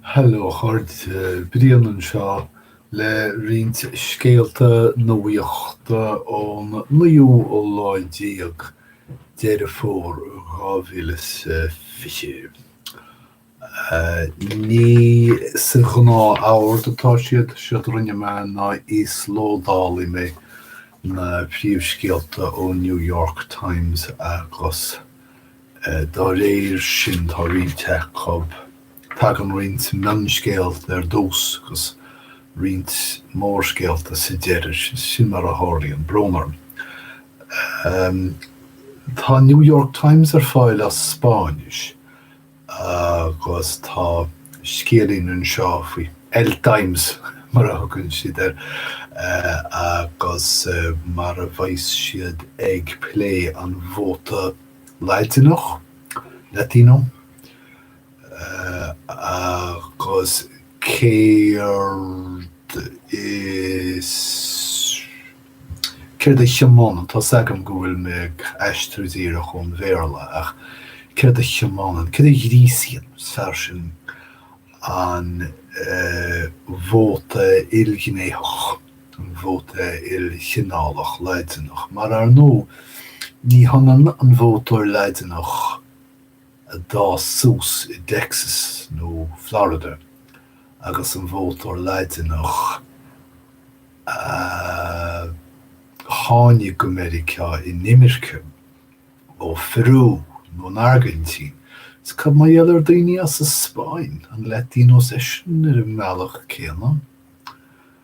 Hello a chairde, Brian anseo le roinnt scéalta nuachta ón naoú lá déag Deireadh Fómhair 2020. Ní sa ghnáth-ord atá siad, is éard a rinne mé ná íoslódáil mé na príomhscéalta ón New York Times agus. Dá réir sin, tá roinnt acu, tagann roinnt mionscéalta ar dtús agus roinnt mórscéalta sa deireadh, sin mar a tharlaíonn, brón orm. Tá an New York Times ar fáil as Spáinnis agus tá scéilín anseo faoi El Times, mar a thugann siad air, agus mar a bheas siad ag plé an vóta Laidineach, Latino, agus céard is céard a thiománann, tá's agam go bhfuil mé ag aistriú díreach ón Bhéarla ach céard a thiománann, céard a ghríosaíonn, is fearr sin, an vóta ilghnéitheach. an vóta ilchineálach Laidineach, mar ar ndóigh, ní hionann an vótóir Laidineach a d'fhás suas i dTexas nó Florida agus an vótóir Laidineach a tháinig go Meiriceá in imirce ó Pheiriú nó an Airgintín. Is cad mar gheall ar daoine as an Spáinn, an Latinos iadsan ar an mbealach céanna?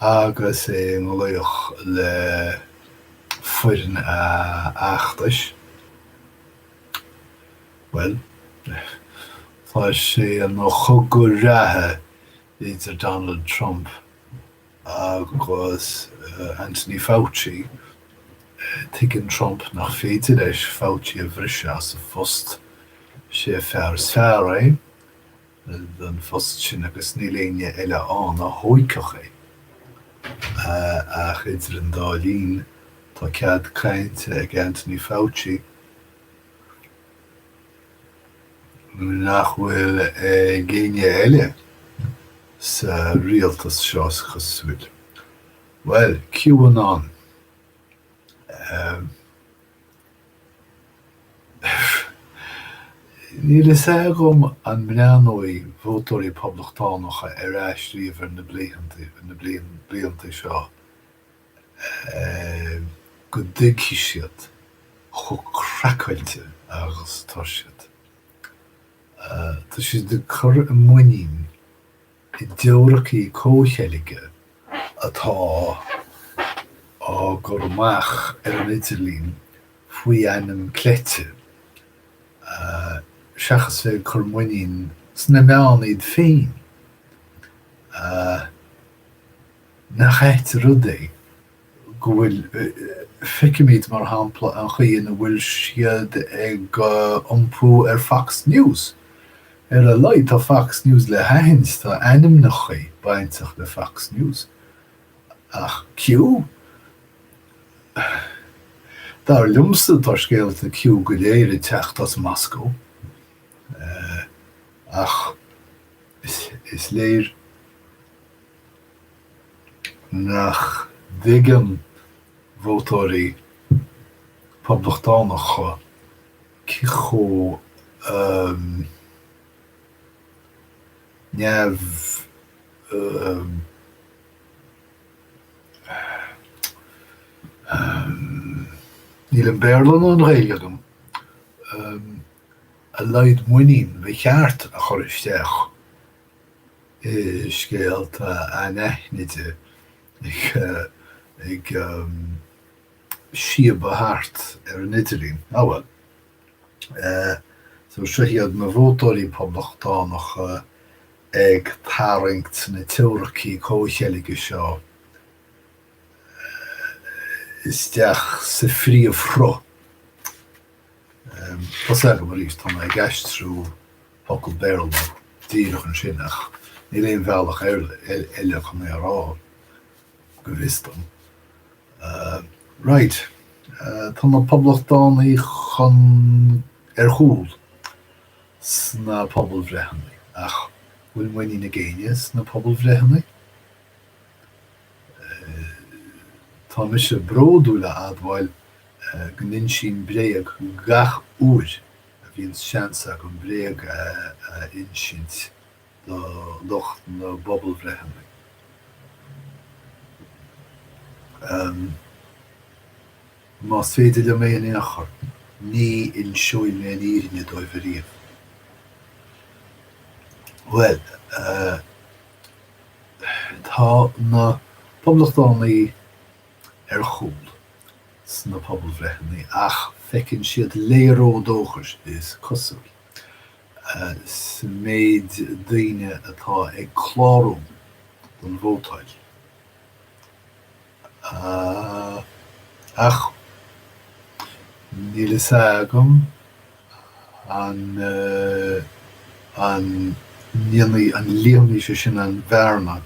agus i nglaoch le foireann a fheachtais, bhuel, tá sé ina chogadh reatha idir Donald Trump agus Anthony Fauci. Tuigeann Trump nach féidir leis Fauci a bhriseadh as a phost, is é an fear is fearr é, don phost sin agus níl éinne eile ann a thóigfeadh é. Ach idir an dá linn, tá cead cainte ag Anthony Fauci nach bhfuil ag éinne eile sa rialtas seo is cosúil. Bhuel, QAnon. Níl fhios agam an mbreathnóidh vótóirí Poblachtánacha ar ais riamh ar na blianta seo go dtuigfidh siad chomh craiceáilte agus atá siad. Tá siad ag cur a muinín i dteoiricí comhcheilge atá á gcur amach ar an idirlíon faoi ainm cleite, seachas bheith ag cur muinín sna meáin iad féin, nach ait rud é go bhfuil, feicimid, mar shampla, an chaoi ina bhfuil siad ag iompú ar Fox News. Ar a laghad tá Fox News le haithint, tá ainmneacha bainteach le Fox News. Ach Q? Dar liomsa tá scéalta Q go léir ag teacht as Moscó. Ach is léir nach dtuigeann vótóirí Poblachtánacha cé chomh neamh-níl an Béarla ná an Ghaeilge agam! a laghad muinín ba cheart a chur isteach i scéalta anaithnide ag síobadh thart ar an idirlíon. Ah bhuel. So seo iad na vótóirí poblachtánacha ag tarraingt na teoiricí comhcheilge seo isteach sa phríomhshruth. Tá sé agam arís, tá mé ag aistriú. focal Béarla díreach ansin ach níl aon bhealach eile chun é a rá, go bhfios dom. Raight, tá na Poblachtánaigh chun... ar chúl sna pobalbhreitheanna ach bhfuil muinín ag éinne sna pobalbhreitheanna? Tá mise bródúil le admháil go n-insím bréag gach uair a bhíonn seans agam bréag a insint do lucht na bpobalbhreitheanna. Más féidir liom é in aon chor, ní inseoidh mé an fhírinne dóibh ariamh. Bhuel, tá na poblachtánaigh ar chúl. sna pobalbhreitheanna ach feiceann siad léaró dóchais, is cosúil, sa méid daoine atá ag clárú don vótáil. Ach níl a fhios agam an líonfaidh sé sin an bhearna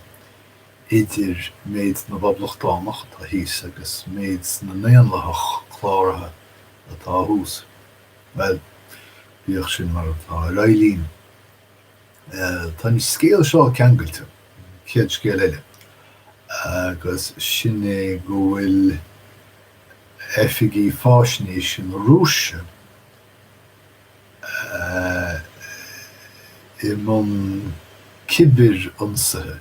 idir méid na bPoblachtánach atá thíos agus méid na nDaonlathach Cláraithe atá thuas. Bhuel, bíodh sin mar atá, ar aghaidh linn. Tá an scéal seo ceangailte, an chéad scéal eile, agus sin é go bhfuil oifigí faisnéise na Rúise i mbun cibirionsaithe.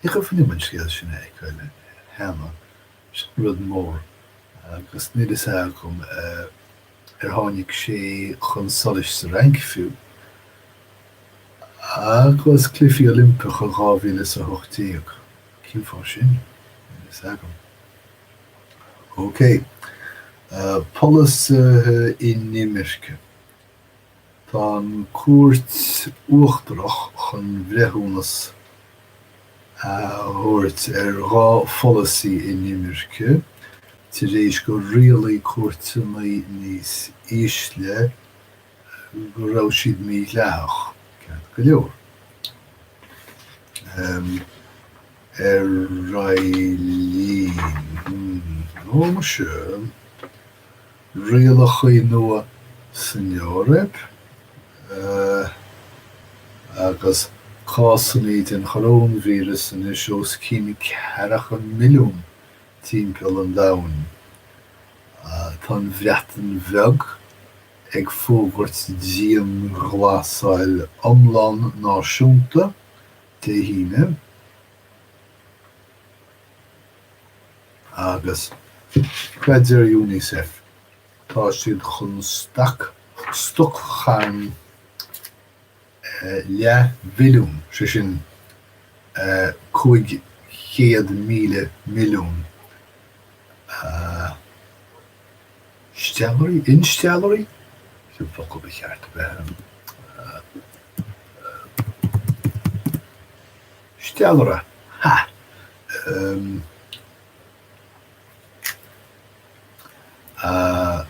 Cé gur chuimhnigh an scéal sin a fheiceáil cheana, sin rud mór agus níl fhios agam ar tháinig sé chun solais sa Fhrainc fiú. Agus Cluichí Oilimpeacha dhá mhíle is a hocht déag. Cén fáth sin? Níl fhios agam. OK. Polasaithe inimirce. Tá an Chúirt Uachtarach chun breithiúnas a thabhairt ar dhá pholasaí inimirce tar éis gur rialaigh cúirteanna níos ísle go raibh siad mídhleathach, ceart go leor. Ar aghaidh linn. Ó, muise. rialacha nua san Eoraip agus cásanna den choróinvíreas anois os cionn ceathracha milliún timpeall an domhain, tá an Bhreatain Bheag ag fógairt dianghlasáil iomlán náisiúnta Dé hAoine. agus dar le Unicef tá siad chun stac stoc-charn leathbhilliún, sé sin 500,000 milliún, steallairí, insteallairí? cén focal ba cheart a bheith ann? Steallaire, ha! Ehm. Ahh.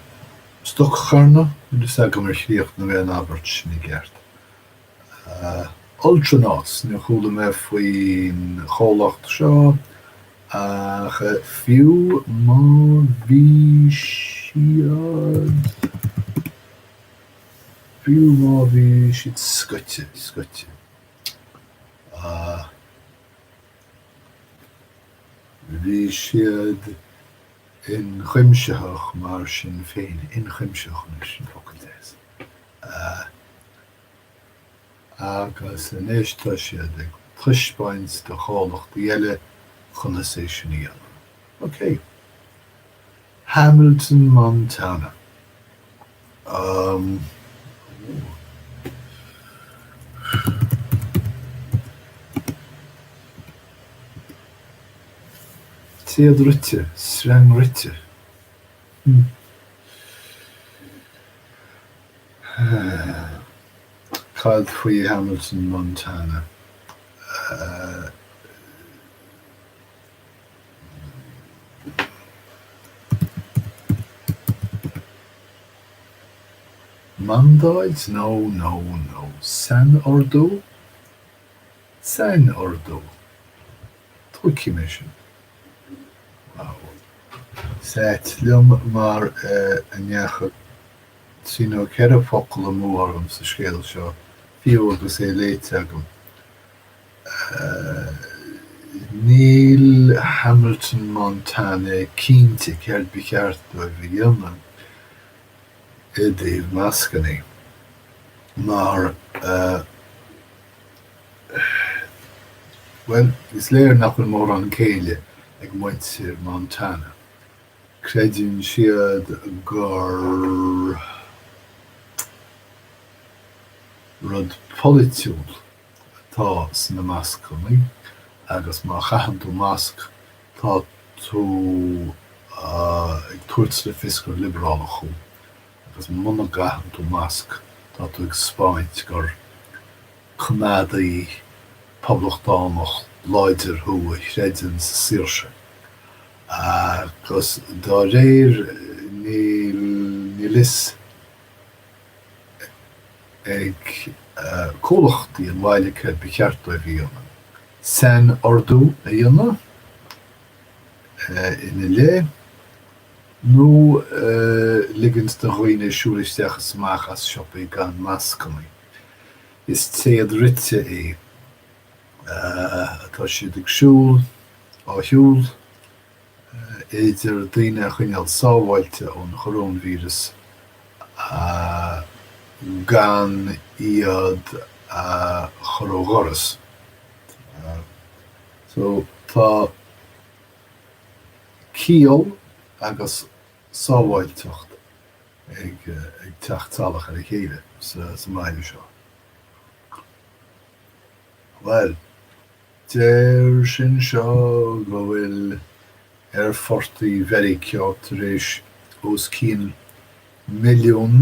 Stoc-charn. Níl fhios agam ar chríochnaigh mé an abairt sin i gceart. Ahh. Ultranauts, níor chuala mé faoin chomhlacht seo ach fiú má bhí siad. fiú má bhí siad scoite, scoite. ach bhí siad inchuimsitheach mar sin féin, inchuimsitheach, anois sin focal deas, agus anois tá siad ag taispeáint do chomhlachtaí eile conas é sin a dhéanamh. OK. Hamilton Montana. Téad rite, sreang rite. Cad faoi Hamilton Montana? Mandáid nó nó nó sainordú, sainordú Tógaimis é sin. Wow. Is ait liom nach ndeachaigh trí nó ceithre focal amú orm sa scéal seo, fiú agus é léite agam. Níl Hamilton Montana cinnte céard ba cheart dóibh a dhéanamh i dtaobh mascannaí mar, bhuel, is léir nach bhfuil mórán céille ag muintir Montana. Creideann siad gur rud polaitiúil atá sna mascannaí agus má chaitheann tú masc tá tú ag tabhairt le fios gur liobrálach thú agus muna gcaitheann tú masc tá tú ag taispeáint gur coimeádaí poblachtánach láidir thú a chreideann sa saoirse agus dá réir níl fhios ag comhlachtaí an bhaile céard ba cheart dóibh a dhéanamh, sainordú a dhéanamh ina leith nó ligint do dhaoine siúl isteach is amach as siopaí gan mascannaí. Is téad rite é atá siad ag siúl, á shiúl. féidir daoine a choinneáil sábháilte ón choróinvíreas gan iad a chur ó dhoras. Tá ciall agus sábháilteacht ag teacht salach ar a chéile sna meáin seo. Bhuel. Deir sé anseo go bhfuil aerfortaí Mheiriceá tar éis os cionn milliún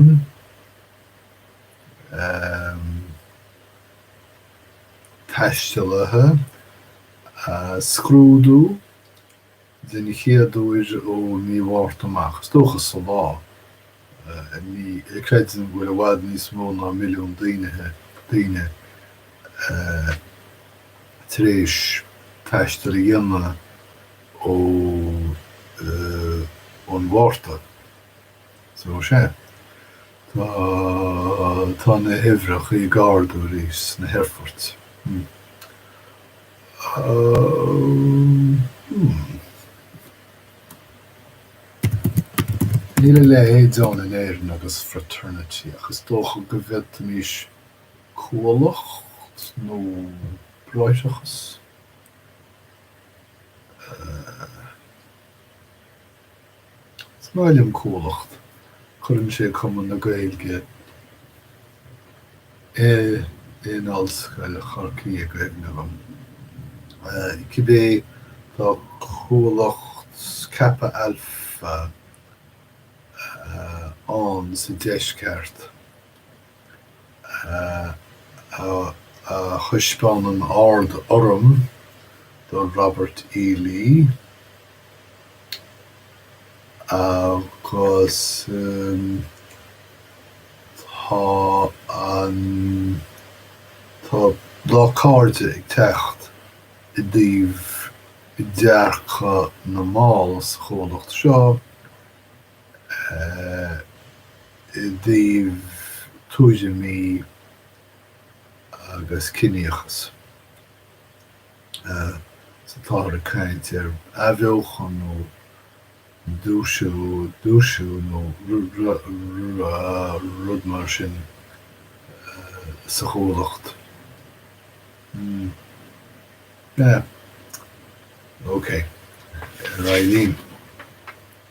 taistealaí a scrúdú, den chéad uair ó mhí Mhárta amach. Is dócha sa lá inniu creidtear go bhfuil i bhfad níos mó ná milliún daoine tar éis taisteal a dhéanamh ón Mhárta so sea. Tá na huimhreacha ag ardú arís sna haerfoirt. Níl a leithéid ann in Éirinn agus fraternity ach is dócha go bhféadfaimís cuallacht nó bráithreachas. Is maith liom Cuallacht. Cuireann sé Cumann na Gaeilge in Ollscoil Chorcaí i gcuimhne dom. Cibé, tá Cuallacht Kappa Alpha ann sa deisceart. a thaispeánann an-urraim do Robert E. Lee agus tá an tá lá na cairde ag teacht i dtaobh dearcadh na mball sa chuallacht seo. i dtaobh daoine goirme agus ciníochas. Sea, táthar ag caint ar athbheochan nó dúisiú nó rud mar sin sa Chuallacht. Sea. OK. Ar aghaidh linn.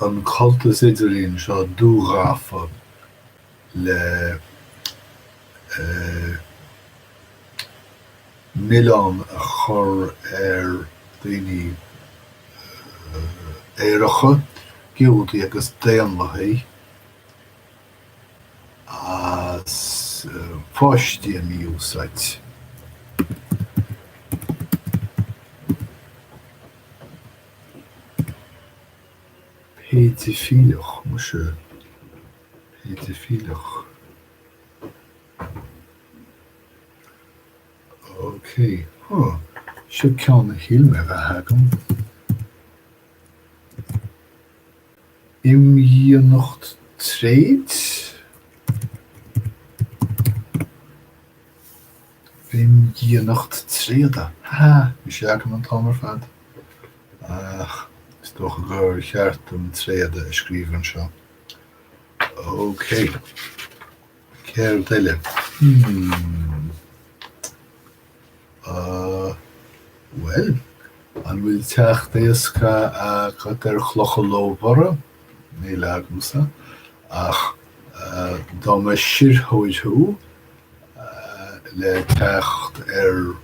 an cuntas idirlín seo dúghafa le milleán a chur ar dhaoine aeracha, Giúdaigh agus Daonlathaigh, as páistí a mí-úsáid. péidifileach, muise, péidifileach, ok, huh, seo ceann a shíl mé a bheith agam, imdhíonacht tréid? Imdhíonacht tréada, ha ha! Bhí sé agam an t-am ar fad. Ach is dócha gur cheart dom tréada a scríobh anseo. OK. Céard eile? Hmm. Ah, bhuel, an bhfuil teacht éasca agat ar chlocha lómhara? Níl agamsa. Ach dá mba sirtheoir thú, le teacht ar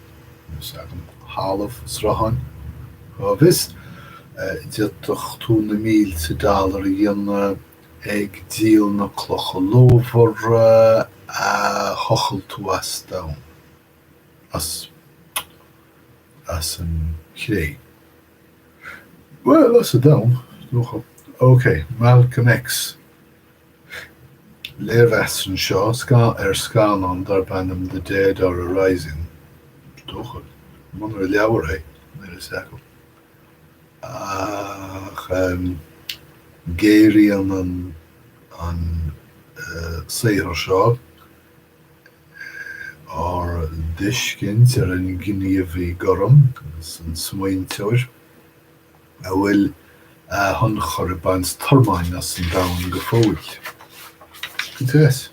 thalamh srutháin. Cá bhfios? D'fhéadfadh tú na mílte dollar a dhéanamh ag díol na clocha lómhara a thochail tú as domhan, as, as an chré. Bhuel, as an domhan, is dócha. OK, Malcolm X. léirmheas anseo ar scannán darb ainm The Dead Are Arising, is dócha, munar leabhar é, mar is eagal dom. Ach géaraíonn an saothar seo ár dtuiscint ar an gníomhaí gorm agus an smaointeoir. a bhfuil a thionchar ag baint tormáin as an domhan go fóill. Cuntas?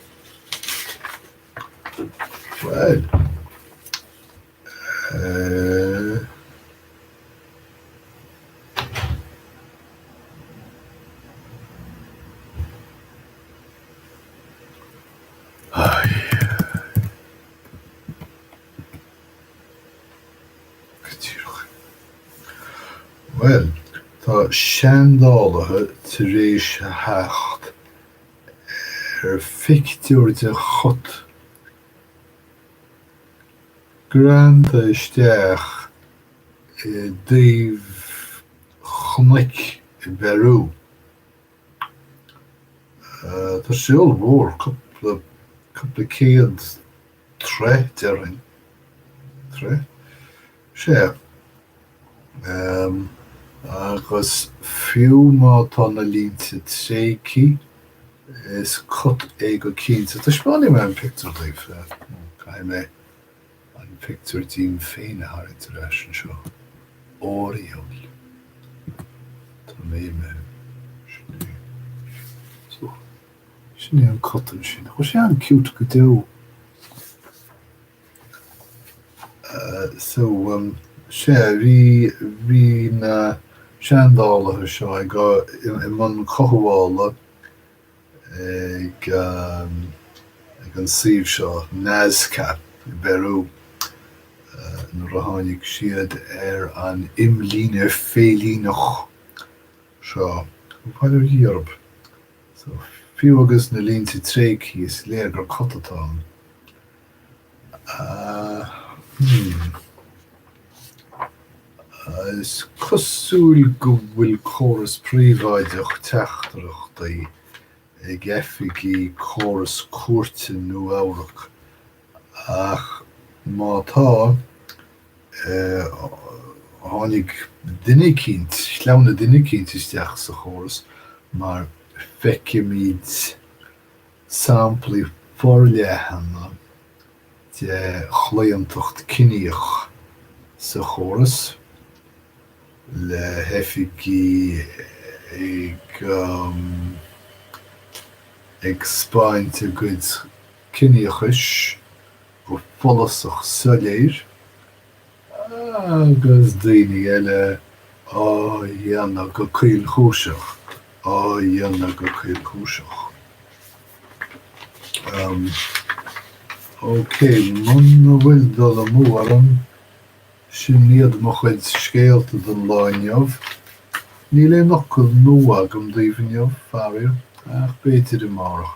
Bhuel. Uh... Bhuel, tá seandálaithe tar éis a theacht ar phictiúr de chat greanta isteach i dtaobh chnoic i bPeiriú. Tá sé ollmhór, cúpla cúpla céad troigh, de réir... troigh sé. Agus fiú má tá na línte tréigthe, is cat é go cinnte. Taispeánfaidh mé an pictiúr daoibh. Caithfidh mé an pictiúr díom féin a tharraingt ar ais anseo. Oriel. Tá mé i mo shlí. Suas. Sin é an cat ansin. Tá sé an-cute go deo. So um, sea, bhí, bhí na seandálaithe seo ag, i mbun cothabhála ag, um, ag an suíomh seo, Nazca, i bPeiriú, nuair a tháinig siad ar an imlíne féilíneach seo, faoi Eoraip? So, fiú agus na línte tréigthe, is léir gur cat atá ann. Hmm. Is cosúil go bhfuil córas príobháideach teachtaireachtaí ag oifigigh chóras cúirte Nua-Eabhrac Ach má tá, tháinig duine eicínt, shleamhnaigh duine eicínt isteach sa chóras mar feicimid samplaí forleathan de chlaontacht ciníoch sa chóras le hoifigigh ag 'speáint a gcuid ciníochais go follasach soiléir agus daoine eile á dhéanamh go caolchúiseach, á dhéanamh go caolchúiseach. Am, Okay, muna bhfuil dul amú orm, sin iad mo chuid scéalta don lá inniu. Níl aon fhocal nua agam daoibh inniu, faraor, ach b'fhéidir amárach.